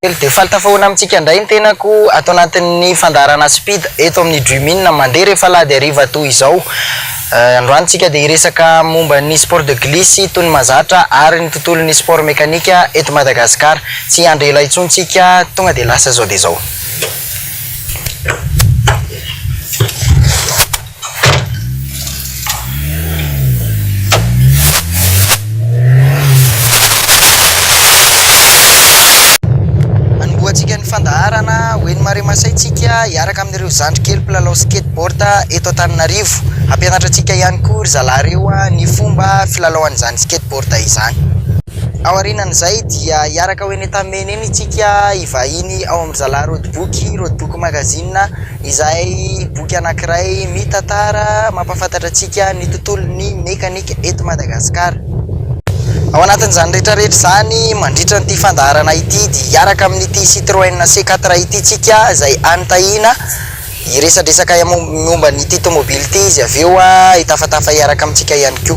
Telo dia faly tafahoana amintsika indray ny tenako ato anatin'ny fandaharana Speed eto amin'ny Dreamin mandeha rehefa alahady hariva toy izao. Eh, androany tsika dia hiresaka momba ny sport de glisse toy ny mazatra ary ny tontolon'ny sport mekanika eto Madagascar. Tsy hiandry ela intsony tsika, tonga dia lasa izao dia izao. Hanombohantsika ny fandaharana ho eny Maremasay tsika hiaraka amin'ireo zandry kely mpilalao skateboard eto Antananarivo. Hampianatra antsika ihany koa ry zalahy ireo ny fomba filalaoan'izany skateboard izany. Ao aorianan'izay dia hiaraka ho eny Antamena eny tsika hivahiny ao amin'ry zalahy Rodiboky, Rodiboky magazine. izay boky anankiray mitantara mampahafantatra antsika ny tontolon'ny mekanika eto Madagasikara. Ao anatin'izany rehetrarehetra izany mandritra an'ity fandaharana ity dia hiaraka amin'ity Citroën C4 ity isika izay any Tahina hiresadresaka momba an'ity tomobily ity izy avy eo hitafatafa hiaraka amintsika ihany koa.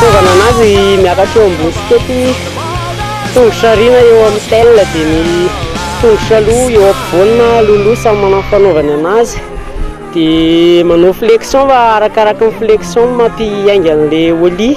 Tonga nanazy miakatra eo ambony sikety tongotra aoriana eo amin'ny tel dia ny tongotra aloha eo ampovoany na aloha samy manao ny fanaovany anazy dia manao flexion fa arakaraka ny flexion no mampiainga an'ilay ollie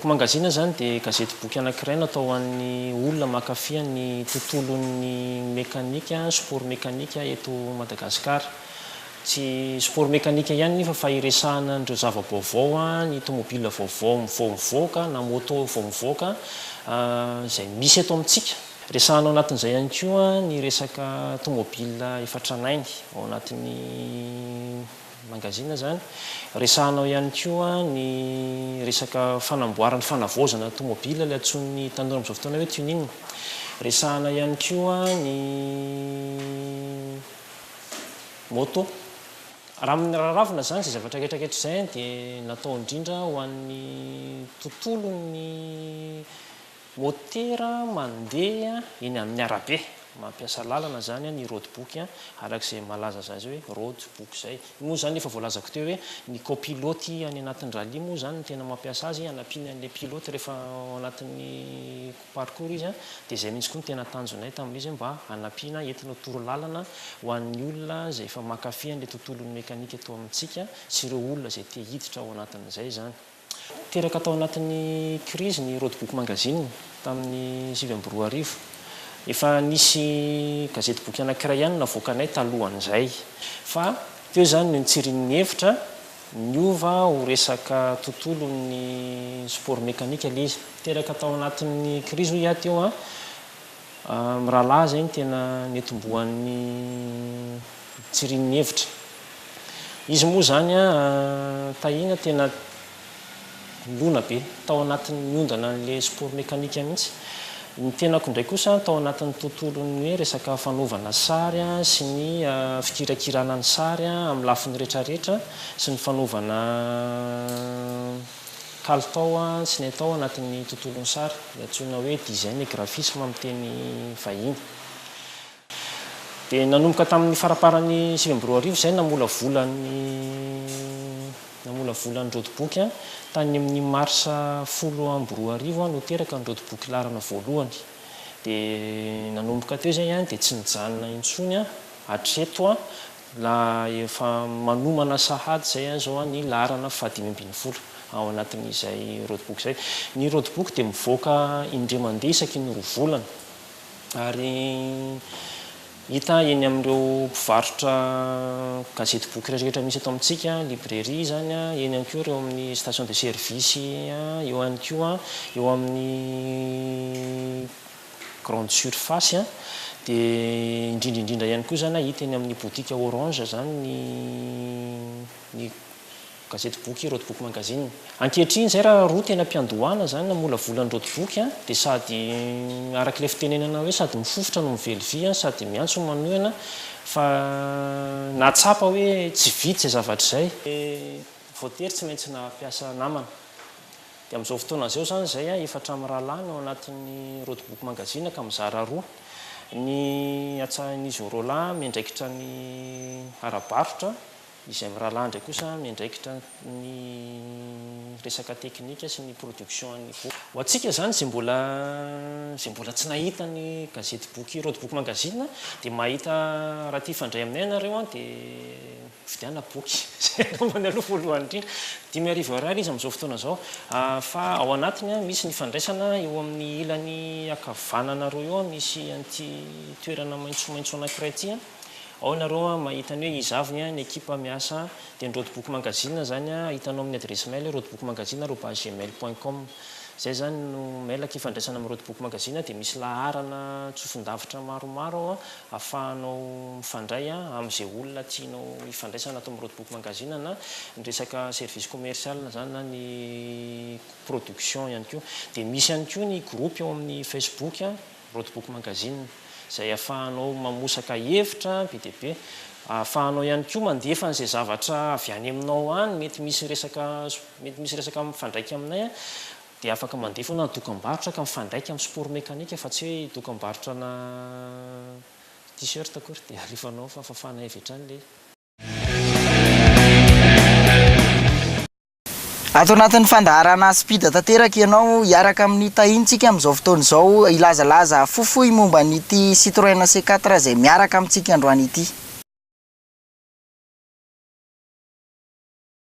Book Magazine izany dia gazety boky anankiray natao ho an'ny olona mankafy ny tontolon'ny mekanika, sport mekanika eto Madagasikara. Tsy sport mekanika ihany nefa fa iresahana an'ireo zava-baovao, ny tomobilina vaovao vao mivoaka na moto vao mivoaka izay misy eto amintsika. Resahana ao anatin'izay ihany koa ny resaka tomobilina efa tranainy ao anatin'ny mangazina izany. Resahana ao ihany koa ny resaka fanamboarana, fanavaozana ny tomobilina, ilay antsoin'ny tanora amin'izao fotoana hoe tuning. Resahana ihany koa ny moto. Raha amin'ny raravina izany izay zavatra rehetra ankehitr'izay dia natao indrindra ho an'ny tontolon'ny motera mandeha eny amin'ny arabe. Mampiasa lalana izany ny roadbook, araka izay malaza azy hoe roadbook izay. Io moa izany efa voalazako teo hoe ny kaopiloty any anatin'ny rallye moa izany no tena mampiasa azy hanampiany an'ilay pilote rehefa ao anatin'ny parcours izy an, dia izay mihitsy koa no tena tanjonay tamin'izy mba hanampiana entina ho toro lalana ho an'ny olona izay efa mankafy an'ilay tontolon'ny mekanika eto amintsika sy ireo olona izay te hiditra ao anatin'izay izany. Teraka tao anatin'ny krizy ny Roadbook Magazine tamin'ny sivy amby roa arivo. Efa nisy gazety boky anankiray ihany navoakanay talohan'izay fa teo izany no nitsirian'ny hevitra Niova ho resaka tontolon'ny sport mécanique ilay izy. Teraka tao anatin'ny krizy hoy aho teo an. Mirahalahy izay no tena nitomboan'ny tsirinin'ny hevitra. Izy moa izany an, tahiana tena. Nilona be tao anatin'ny niondana an'ilay sport mécanique mihitsy. Ny tenako indray kosa tao anatin'ny tontolon'ny hoe resaka fanaovana sary sy ny fikirakirana ny sary amin'ny lafiny rehetrarehetra sy ny fanaovana kalitao sy ny atao anatin'ny tontolon'ny sary, ilay antsoina hoe design et graphisme amin'ny teny vahiny. Dia nanomboka tamin'ny faramparan'ny sivy amby roa arivo izay namolavola ny namolavola ny rodoboky. Tany amin'ny marsa folo amby roa arivo no teraka ny rodoboky laharana voalohany. Dia nanomboka teo izay dia tsy nijanona intsony hatreto la efa manomana sahady izay izao ny laharana fahadimy ambin'ny folo ao anatin'izay rodoboky izay. Ny rodoboky dia mivoaka indray mandeha isaky ny roa volana. Ary hita eny amin'ireo mpivarotra gazety boky rehetra misy eto amintsika, librairie izany, eny ihany koa ireo amin'ny station de service, eo ihany koa eo amin'ny grande surface, dia indrindra indrindra ihany koa izany hita eny amin'ny botika orange izany ny ny Gazety boky Road Book Magazine. Ankehitriny izay raha roa tena mpiandohana izany namolavola ny road book dia sady araka ilay fitenenana hoe sady mifofotra no mively vy sady miantso ny manohana fa nahatsapa hoe tsy vita izay zavatra izay. Ny voatery tsy maintsy nampiasa namana. Dia amin'izao fotoana izao izany izay efatra mirahalahy no ao anatin'ny Road Book Magazine ka mizara roa. Ny atsahin'izy roalahy miandraikitra ny ara-barotra Izay miralandry kosa miandraikitra ny resaka teknika sy ny production an'ny boky. Ho antsika izany izay mbola izay mbola tsy nahita ny gazety boky Roadbook Magazine dia mahita raha te hifandray aminay ianareo dia vidiana boky. Izay anaovany aloha voalohany indrindra. Dimy arivo ariary izy amin'izao fotoana izao. Fa ao anatiny misy ny fandraisana eo amin'ny ilany ankavanana roa eo misy an'ity toerana maitsomaitso anankiray ity. Ao nareo an mahita ny hoe izavony an ny ekipa miasa an dia ny rodoboky magazine zany an hitanao amin'ny adiresy mail rodoboky-magazine arobase gmail point com zay zany no mail aky ifandraisana amin'ny rodoboky magazine an dia misy laharana tsofin-davitra maromaro ao an afahanao mifandray an amin'izay olona tianao hifandraisana ato amin'ny rodoboky magazine na ny resaka service commercial zany na ny production ihany koa dia misy ihany koa ny groupe ao amin'ny facebook an Roadbook Magazine, izay ahafahanao mamosaka hevitra be dia be. Ahafahanao ihany koa mandefa an'izay zavatra avy any aminao any, mety misy resaka mety misy resaka mifandraika aminay dia afaka mandefa ianao na dokam-barotra ka mifandraika amin'ny sport mekanika fa tsy hoe dokam-barotrana T-shirt akory dia alefanao fa fafana avy hatrany ilay Ato anatin'ny fandaharana Aspida tanteraka ianao hiaraka amin'ny tahintsika amin'izao fotoana izao hilazalaza fohifohy momba an'ity Citroën C4 izay miaraka amintsika androany ity.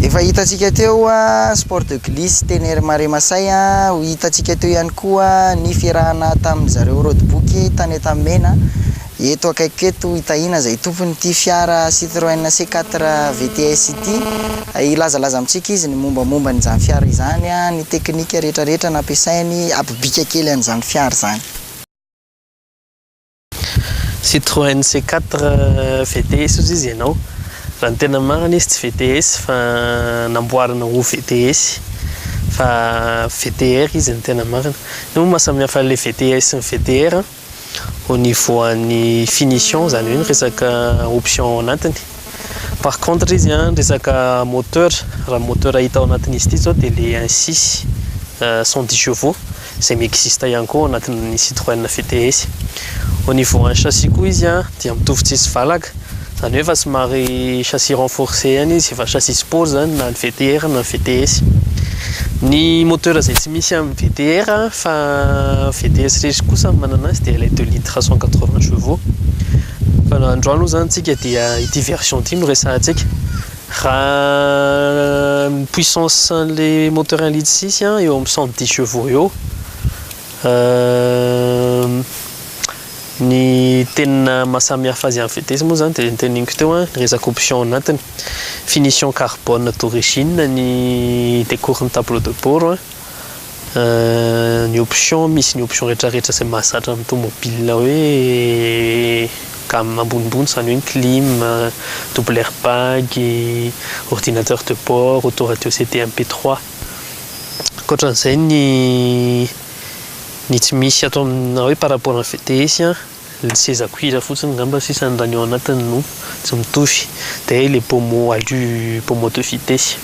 Efa hitantsika teo sport de glisse teny Maremasay, ho hitantsika teo ihany koa ny fiarahana tamin'ny zareo roadbook taneta mena, eto akaikiko eto i Tahina izay tompon'ity fiara Citroën C4 VTS ity, hilazalaza amintsika izy ny mombamomba an'izany fiara izany, ny teknika rehetrarehetra nampiasainy, hampibika kely an'izany fiara izany. Citroen C quatre VTS ozy izy ianao, raha ny tena marina izy tsy VTS fa namboarina ho VTS fa VTR izy ny tena marina, io moa maha samy hafa le VTS sy ny VTR an, au niveau an'ny finition zany hoe ny resaka option ao anatiny. Par contre izy an, resaka moteur, raha ny moteur hita ao anatin'izy ity izao dia le un six cent dix chevaux izay mi-existe ihany koa ao anatin'ny Citroën VTS. Au niveau an'ny chassis koa izy an dia mitovy tsisy valaka, izany hoe efa somary chassis renforcé ihany izy, efa chassis sport izany na ny VTR na ny VTS. Ny moteur izay tsy misy amin'ny VTR fa VTS rery kosa no manana azy dia ilay deux litres cent quatre vingt chevaux. Androany moa zany tsika dia ity version ity no resahantsika. Raha ny puissance an'le moteur un litre six an, eo amin'ny cent dix chevaux eo. Ny tena maha samy hafa azy amin'ny vitesse moa zany dia ny teneniko teo an, ny resaka option anatiny. Finition carbone d'origine ny decours ny tableau de bord an. Ny option misy ny option rehetra rehetra izay mahazatra ny tomobile hoe gamme ambonimbony izany hoe ny clim, double air bag, ordinateur de bord, auto radio CD MP trois. Ankoatran'izay ny ny tsy misy ato aminà hoe par rapport an'ny VTS a. Ny seza cuir fotsiny ngamba sisany raha ny ao anatiny no tsy mitovy dia ilay pommeau alu pommeau de vitesse.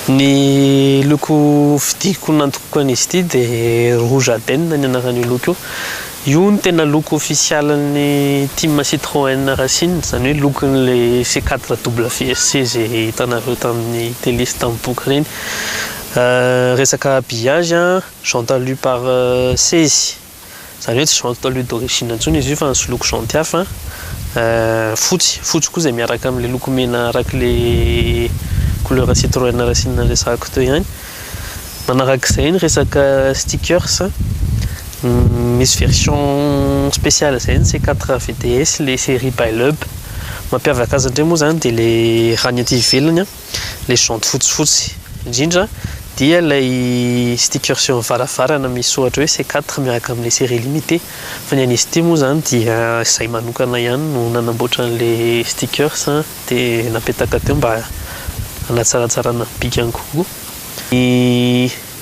Ny loko vidiko nantokiko an'izy ity dia rouge aden ny anaran'io loko io. Io no tena loko ofisialin'ny team Citroën Racing, izany hoe lokon'ilay C4 WRC izay hitanareo tamin'ny télé sy tamin'ny boky ireny. Resaka habillage, jante alu pare seize Izany hoe tsy Juan total huile d'origine intsony izy io fa nisoloiko jaunty hafa, fotsy, fotsy koa izay miaraka amin'ilay loko mena arak'ilay couleur citroën rasinina resahako teo ihany. Manarak'izay ny resaka stickers, misy version spéciale izay ny C quatre VDS ilay série Bailub, mampiavaka azy indray moa izany dia ilay raha ny aty ivelany an, ilay jaunty fotsifotsy indrindra dia ilay stickers eo amin'ny varavarana misy soratra hoe C quatre miaraka amin'ilay série limitée fa ny an'izy ity moa izany dia izahay manokana ihany no nanamboatra an'ilay stickers dia napetaka teo mba hanatsaratsarana ny bikany kokoa.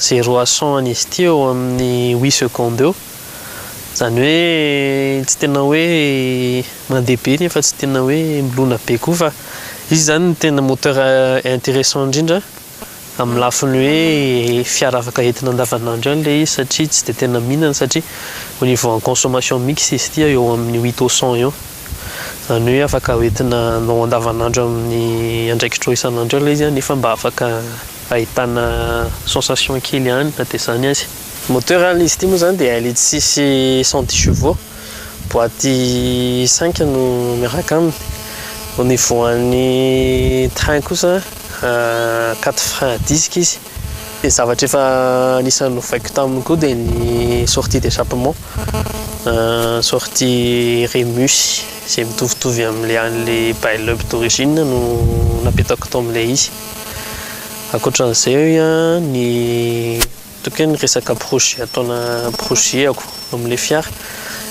zero à cent an'izy ity eo amin'ny huit secondes eo, izany hoe tsy tena hoe mandeha be nefa tsy tena hoe milona be koa fa izy izany no tena moteur intéressant indrindra amin'ny lafiny hoe fiara afaka entina andavanandro ihany ilay izy satria tsy dia tena mihinana satria au niveau en consommation mix izy ity eo amin'ny huit au cent eo, izany hoe afaka hoentinao andavanandro amin'ny andraikitra isan'andro eo ilay izy nefa mba afaka. ahitana sensation kely ihany na dia izany aza. Moteur an izy ity moa izany dia ilay tsisy cent dix chevaux, boite cinq no miaraka aminy, au niveau an'ny train kosa quatre frein à disque izy, dia zavatra efa anisan'ny novaiko taminy koa dia ny sortie d'échappement, sortie remus izay mitovitovy amin'ilay an'ilay bail up d'origine no napetako tao amin'ilay izy. Ankoatran'izay hoe a, ny ataoko hoe ny resaka projet ataona projet-ako amin'ilay fiara,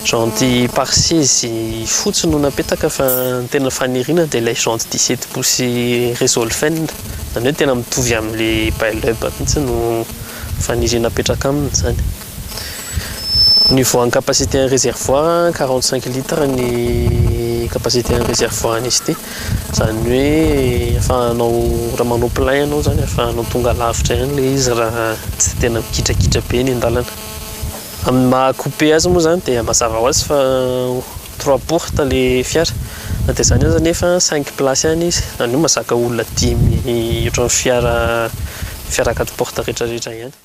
janty pare seize fotsy no napetaka fa ny tena faniriana dia ilay janty dix sept pouces Resolfen, izany hoe tena mitovy amin'ilay Bailub mihitsy no faniriana apetraka aminy izany. Ny voan'ny capacité ny réservoir quarante cinq litres ny capacité ny réservoir izy ity izany hoe afahanao raha manao plein ianao izany afahanao tonga lavitra ihany ilay izy raha tsy tena mikitrakiitra be ny an-dalana amin'ny maha coupe azy moa izany dia mazava ho azy fa trois porte ilay fiara na dia izany aza nefa cinq place ihany izy izany hoe mazaka olona dimy ohatran'ny fiara fiara quatre porte rehetrarehetra ihany